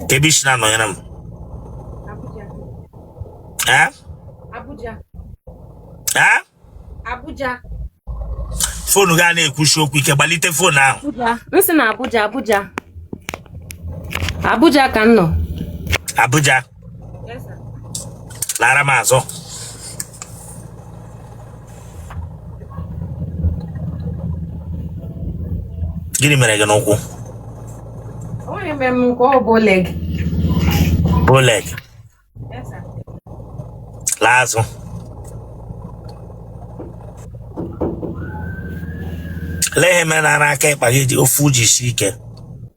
kee ebe i si na-anọnyere m ee Abuja. ee Abuja. phone gị a na-ekwusi okwu ike gbalite phone ahụ Abuja. M sị na Abuja, Abuja. Abuja ka m nọ. Abuja lara m azụ gịnị mere gị n'ụkwụ bow leg laa azụ lee ihe mere na aka ịkpa gị dị ofu ji isi ike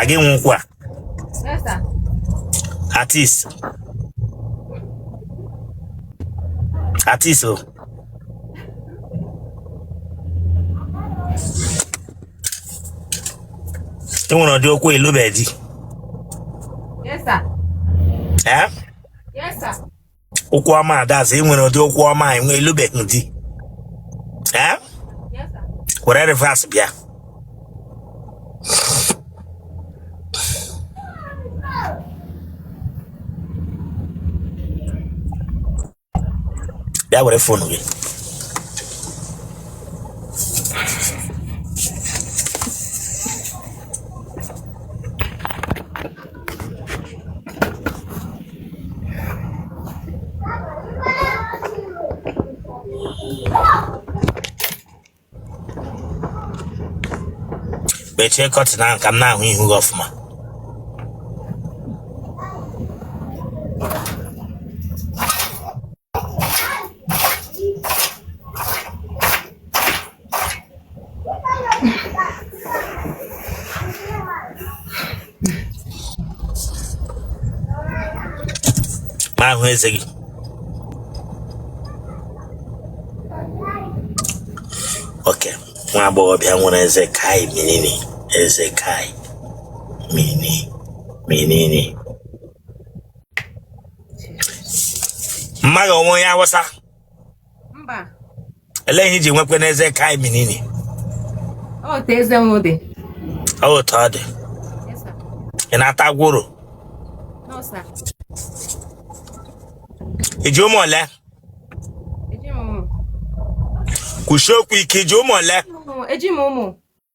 ọ gị nwe ukwu a atis atis o i nwere ụdị ukwu alụbe di Yes, sir. Eh? Yes, sir. ukwu ọma Adazi i nwere ụdị ukwu ọma a i nwee alụbeghị di ee were reverse bịa bịa were phone gị mechie kọtịn ahụ ka m na-ahụ ihu gị ọfụma ma ahụ eze gị okay nwa agbọghọbịa nwere eze kai minini eze kai mini minini mma gị ọ wụ onye Awụsa mba Elee ihe i ji nwekwenụ eze kai minini? ọ otu eze m dị Ọ bụ otu ọ dị. Yes, sir. Ị na-ata gworo. No, sir. I ji ụmụ ole? Eji m ụmụ. Kwusie okwu ike i ji ụmụ ole? Eji m ụmụ.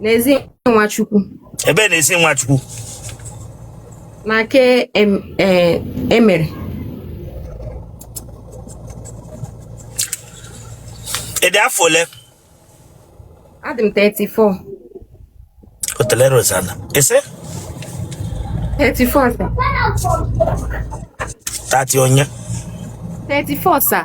N'ezi Nwachukwu. Ebe n'ezi Nwachukwu. Na ke em, eh, emere. Ị dị afọ ole? Adị m 34. Otele Rosanna. Ị sị? 34 sir. Thirty onye? 34 sir.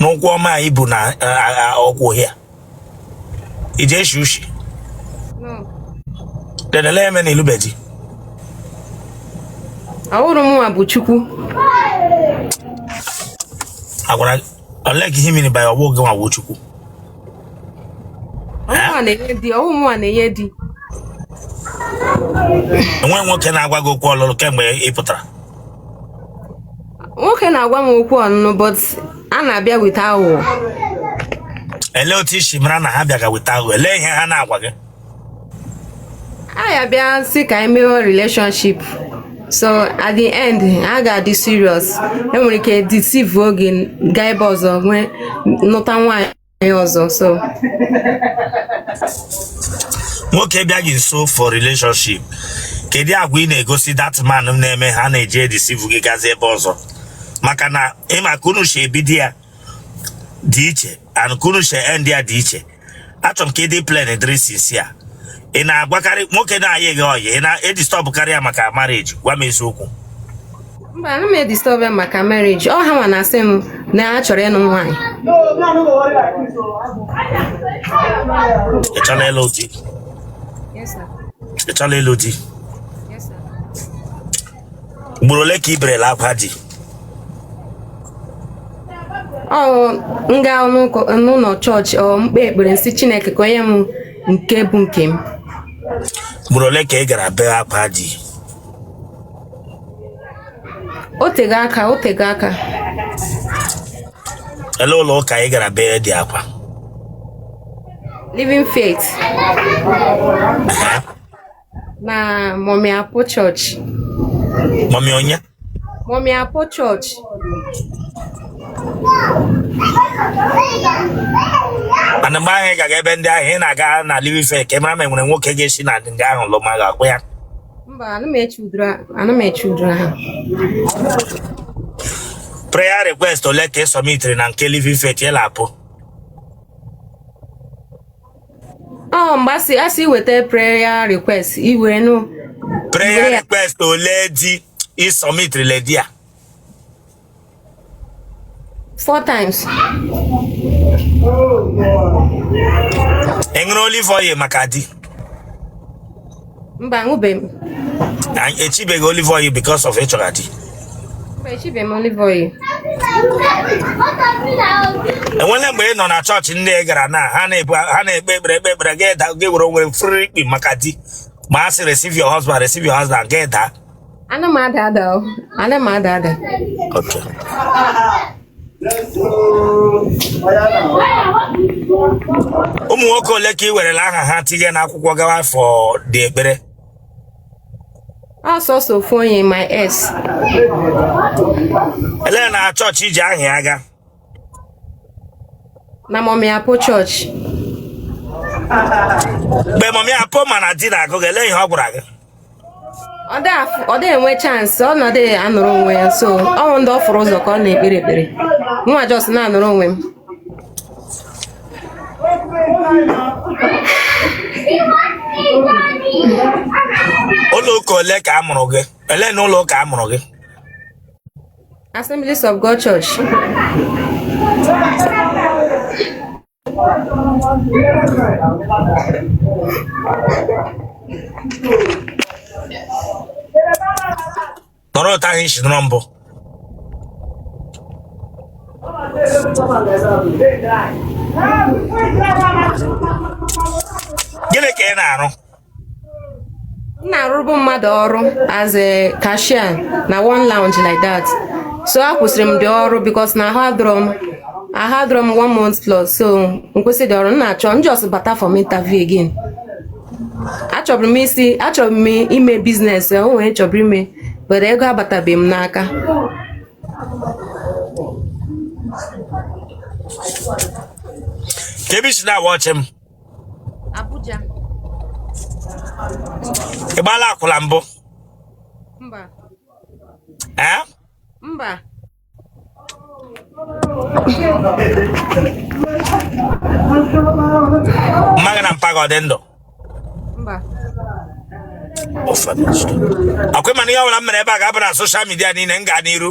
n'ụkwụ ọma ị bu na ọkwụ ohia ị ji eshi ushi No. dedele eme na ị lụbe di Ọ wụghị mụ nwa bụ Chukwu. agwara ole ka ihe ị mean by ọ bụghị gị nwa bụ Chukwu ọ wụ ya nwa na-enye di ọ wụ ya nwa na-enye di enweghị nwoke na-agwa gị okwu ọlụlụ kemgbe ị pụtara nwoke na-agwa m okwu ọnụnụ but a na-abịa with aghụghọ elee otu ị si mara na ha bịaga with aghụghọ elee ihe ha na-agwa gị a ya-abịa sị ka anyị mewe relationship so at the end a ga-adị serious e nwere ike deceive-uo gị gaa ebe ọzọ wee nụta nwaanyị ọzọ so nwoke bịa gị nso for relationship kedu agwa ị na-egosi that man m na-eme ha na-eji edeceive gị gazi ebe ọzọ maka na ị ma ka unu si ebido ya dị iche and ka unu si end ya dị iche achọrọ m ka ị dị plain dịrị sincere ị na-agwakarị nwoke na-ayị gị ọyị ị na-edisturbkarị ya maka marriage gwa m eziokwu mba ana m edisturb ya maka marriage ọ ha nwa na-asị m na ha chọrọ ịnụ nwaanyị ị chọla ịlụ di Yes, sir. ị chọla ịlụ di ugboro ole ka i berela akwa di ọ m gaa n'ụlọ chọọchị ọ m kpee ekpere m sị Chineke ka o nye m nke bụ nke m ugboro ole ka ị gara bee akwa di o tego aka o tego aka elee ụlọ ụka ị gara bee di akwa Living Faith Aha. na Mummy Apo church Mummy onye Mummy Apo church mana mgbe ahụ ị gaga ebe ndị ahụ ị na-aga na Living Faith ka ị mara ma e nwere nwoke ga-esi na nga ahụ lụma gị ọ kwa ya mba ana m eche udoro ha prayer request ole ka ị submitiri na nke Living Faith ị lapụ ọ mgbe a sị a sị weta prayer request iwere nụ prayer request ole di ị submitịrịla di ya four times ị ṅụrụ olive oil maka di mba aṅụbeghị m i chibeghị olive oil because of ị chọrọ di mba echibeghị m olive oil e nwele mgbe ị nọ na chọọchị ndị ị gara na ha na-ebu ha na-ekpe ekpere ekpe ekpere gị daa gị were onwe fụrụ ikpi maka di ma a sị receive your husband receive your husband gị daa ana m ada ada o ana m ada ada okay ụmụ nwoke ole ka ị werela aha ha tinye n'akwụkwọ gawa for the ekpere ọ sọsọ ofu onye my ex ele na chọọchị i ji aha ya aga na Mummy Apo chọọchị mgbe Mummy Apo ma na di na-agụ gị ele ihe ọ gwara gị ọ dị enwe chance ọ na dị anọrọ onwe ya so ọ wụ ndị ọ fụrụ ụzọ ka ọ na-ekpere ekpere mụwa just na-anọrọ onwe m ụlọ ụka ole ka a mụrụ gị ele na ụlọ ụka a mụrụ gị Assemblies of God Church nọrọ otu ahụ i si nọrọ mbụ gịnị ka ị na-arụ m na-arụbu mmadụ ọrụ as a cashier na one lounge like that so akwụsịrị m dị ọrụ because na ahụ adịrọ m ahụ adịrọ m one month plus so m kwụsị dị ọrụ m na-achọ m just bata from interview again achọburu m isi achọburu m ime business o nwere chọburu ime but ego abatabeghị m n'aka kee ebe i si na-awatch m Abuja. Ị gbaala akwụla mbụ? Mba. Ee? Mba. Mma gị na mpa gị ọ dị ndụ? Mba. Orphan. Ọ kwa ị ma na ihe ọ bụla m mere ebe a ga-abụ na social media niile m gaa n'iru.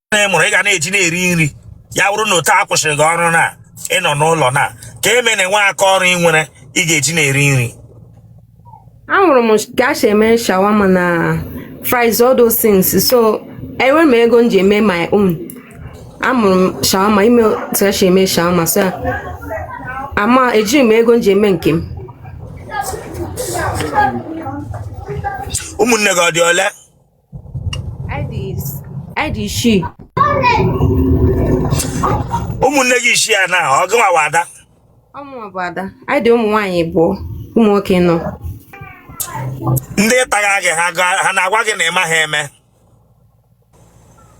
ị mụrụ ị ga na-eji na-eri nri ya bụrụ na otu a kwụsịrị gị ọrụ na ị nọ n'ụlọ na ka eme na enwe aka ọrụ ị nwere ị ga-eji na-eri nri amụrụ m ka a si eme shawama na fries all those things so enwere m ego m ji eme my own amụrụ m shawama ime otu esi eme shawama so ama ejighị m ego m ji eme nke m ụmụnne gị ọ dị ole ụmụnne gị isii a na ọ gịnwa bụ ada ọmụnwa bụ ada anyị dị ụmụ nwaanyị abụọ ụmụ nwoke anọ ndị tagha gị ha na-agwa gị na ị maghị eme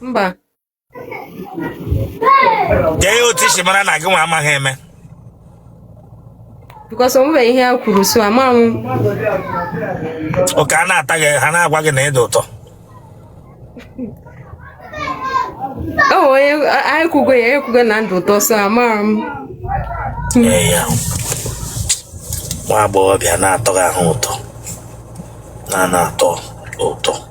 mba Jee ya otu i si mara na gị nwa amaghị eme. Because o nwe ihe ha kwuru so ama m. Okay a na-ata gị ha na-agwa gị na ị dị ụtọ. O onye anyị kwugo ya ekwugo na m dị ụtọ so ama m. Ee ya. Nwa agbọghọbịa na-atọ gị ahụ ụtọ. Na na-atọ ụtọ.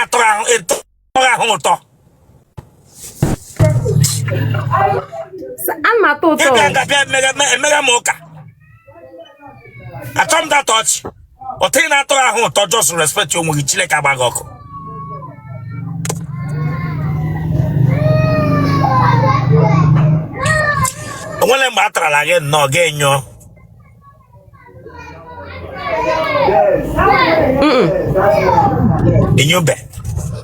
atụrụ ahụ ịtụrụ ahụ ụtọ a na-atọ ụtọ ị bịa nga a bịa emeghe- me- emeghe m ụka achọ m data ọchị ụtọ ị na-atọ ahụ ụtọ just respect onwe gị chineke agba gị ọkụ o nwere mgbe a tarala gị nnọọ gị anyụọ anyụbe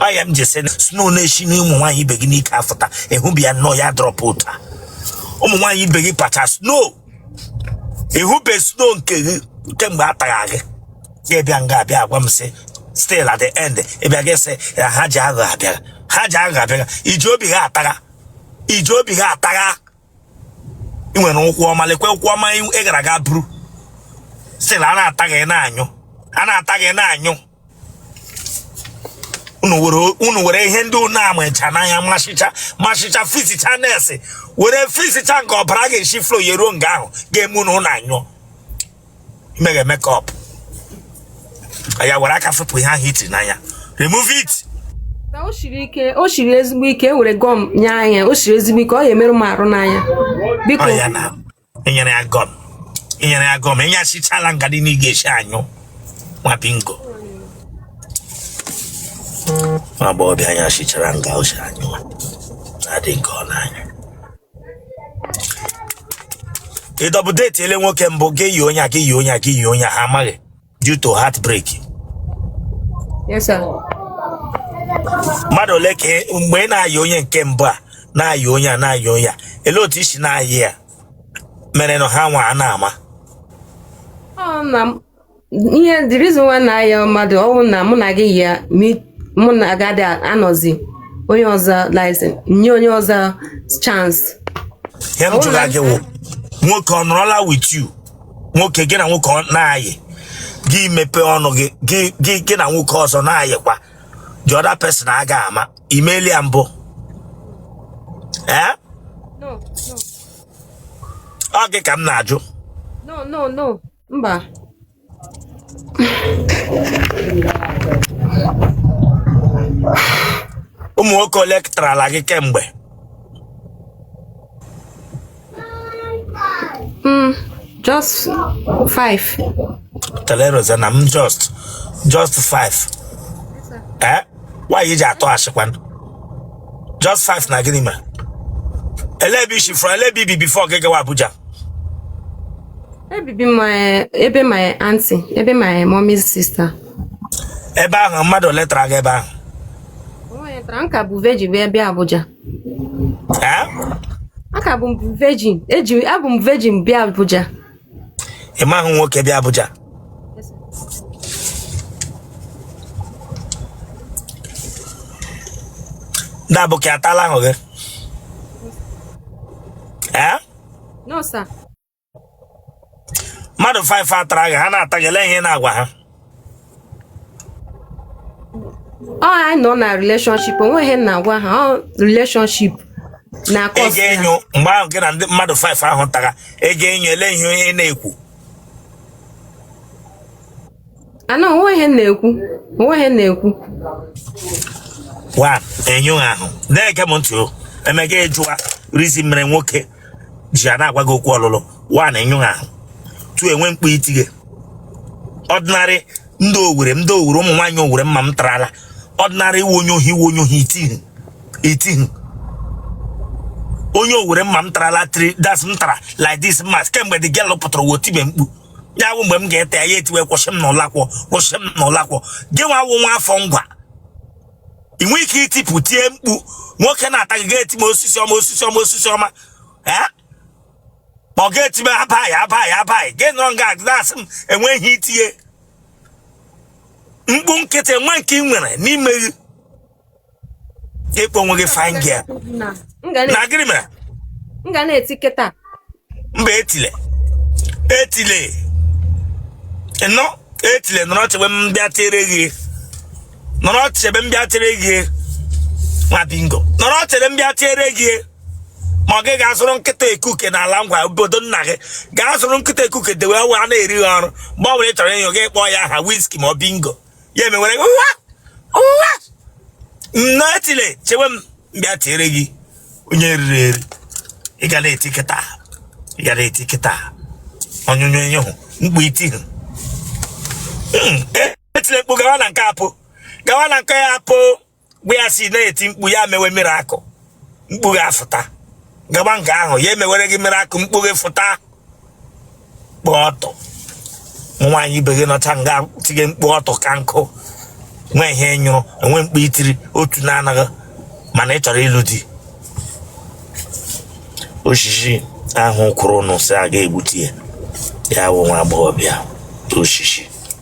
ọ ya m ji sị snow na-esi na ụmụ nwaanyị ibe gị n'ike afụta ị hụbe ya nnọọ ya drọpụta ụmụ nwaanyị ibe gị pacha snow ị hụbe snow nke gị kemgbe a tara gị gị bịa nga a bịa agwa m sị still at the end ị bịa gị sị na ha ji aghọ abịara ha ji aghọ abịara iji obi ha atara iji obi ha atara ị nwere ụkwụ ọma lekwa ụkwụ ọma ị gara ga buru still a na-ata gị na-anyụ a na-ata gị na-anyụ unu were ihe ndị unu amacha n'anya masịcha masịcha fisicha nesi were fisicha nga ọbara ga-esi flow yeruo nga ahụ ga-eme unu na-anyụ meghe makeup ya were aka fepụ ihe ahụ i tiri n'anya remove it o shiri ike o shiri ezigbo ike e were gum nya anya o shiri ezigbo ike ọ ya emerụ m arụ n'anya biko ya na e nyere ya gum e nyere ya gum e nyachichala nga dị na ị ga-esi anyụ nwa bingo nwa agbọghọbịa a nyachichara nga o si anyụ adị nke ọ na-anyụ ị double date ele nwoke mbụ gị yi onye a gị yi onye a gị yi onye a ha amaghị due to heartbreak Yes, sir. mmadụ ole ka ị- mgbe ị na-ayị onye nke mbụ a na-ayị onye a na-ayị onye a ele otu i si na-ayị ya mere na ha nwa a na-ama Ọ ma m- ihe the reason why na-ayị mmadụ ọ wụ na mụ na gị ya mi- mụ na gị adị anọzi onye ọzọ license nye onye ọzọ chance ihe m jụga gị wụ nwoke ọ nọrọla with you nwoke gị na nwoke ọ na-ayị gị mepee ọnụ gị gị gị gị na nwoke ọzọ na-ayịkwa the other person aga ama i meela ya mbụ ee no ọ gị ka m na-ajụ no no no Mba. ụmụ nwoke ole ka tarala gị kemgbe Mm, just five. telere na m just just five eh why i ji atụ asịkwa just five na gịnị mere ele ebe i si from ele ebe i bi before gị gawa Abuja ebibu m ebe my aunty ebe my mommy's sister ebe ahụ mmadụ ole tara gị ebe ahụ onye tara m ka bụ virgin wee bịa Abuja aka bụ m virgin eji abụ m virgin bịa Abuja ị mahụ nwoke bịa Abuja ndị aboki atalahụ gị ee No, sir. mmadụ 5 a tara gị ha na-ata gị ele ihe ị na-agwa ha ọ anyị nọ na relationship o nweghị na-agwa ha ọ relationship na ị akọs ga-enyo mgbe ahụ gị na ndị mmadụ 5 ahụ tara ị ga-enyo ele ihe ị na-ekwu ana onweghị na-ekwu onweghị na-ekwu wa enyo ahụ na-ege m ntị o emega ị jụwa reason mere nwoke ji ya na-agwa gị okwu ọlụlụ one enyo ahụ two enwe mkpu itighe ordinary ndị Owere ndị Owere ụmụ nwaanyị Owere mma m tarala ordinary iwe onye ohi iwe onye ohi i tighị i tighị onye Owere mma m tarala tiri that's m tara like this mma kemgbe the girl pụtara wo tibe mkpu ya bụ mgbe m ga-ata ya etiwe kwụsị m n'ụlọ akwụkwọ kwụsị m n'ụlọ akwụkwọ gị nwa awụ nwa afọ ngwa ị nwee ike itipụ tie mkpu nwoke na-ata gị ga-eti m osisi ọma osisi ọma osisi ọma ee ọ ga-eti m abaghị abaghị abaghị gị nọ nga na-asị m enweghị itie mkpu nkịtị nwa nke ị nwere n'ime gị ịkpọ onwe gị fine girl na gịnị mere m ga na-eti kịta mba etile etile nọ etile nọrọ chebe m bịa tiere gị nọrọ chebe m bịa tiere gị nwa bingo nọrọ chebe m bịa tiere gị ma ọ gị gaa zụrụ nkịta ekuke na ala ngwa obodo nna gị gaa zụrụ nkịta ekuke dewe awa a na-eri gị ọrụ mgbe ọ bụla ị chọrọ ịnyụ gị kpọọ ya aha whisky ma ọ bingo ya emewere gị nwa nwa nne etile chewe m bịa tiere gị onye riri eri ị ga na-eti kịta ị ga na-eti kịta ọnyụnyụ ịnyụ hụ mkpu iti hụ etile mkpu gawa na nke apụ gawa na nke ya apụ mgbe ya si na-eti mkpu ya mewe mmiri akụ mkpu gị afụta gaba nke ahụ ya emewere gị mmiri akụ mkpu gị fụta kpụ ọtụ nwaanyị ibe gị nọcha nga tinye mkpu ọtụ ka nkụ nwee ihe nyụrụ enwe mkpu itiri otu na-anaghị mana ị chọrọ ịlụ di oshishi ahụ kwụrụ nụ sị a ga-egbutu ya ya wụ nwa agbọghọbịa oshishi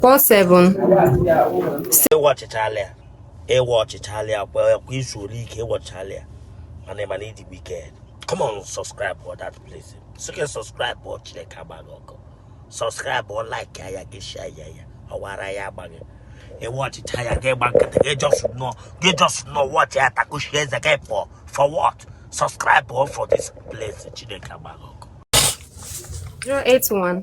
47 ị watchchaala ya ị watchchaala ya kwa kwa izu ole ike ị watchchaala ya mana ị ma na ị dị wicked come on subscribe for that place sị gị subscribe o chineke agba gị ọkụ subscribe o like ya gị share ya ya ọwara ya agbaghị ị watchcha ya gị gba nkịtị gị just nọ gị just nọ watch ya takushi eze gị for for what subscribe o for this place chineke agba gị ọkụ 081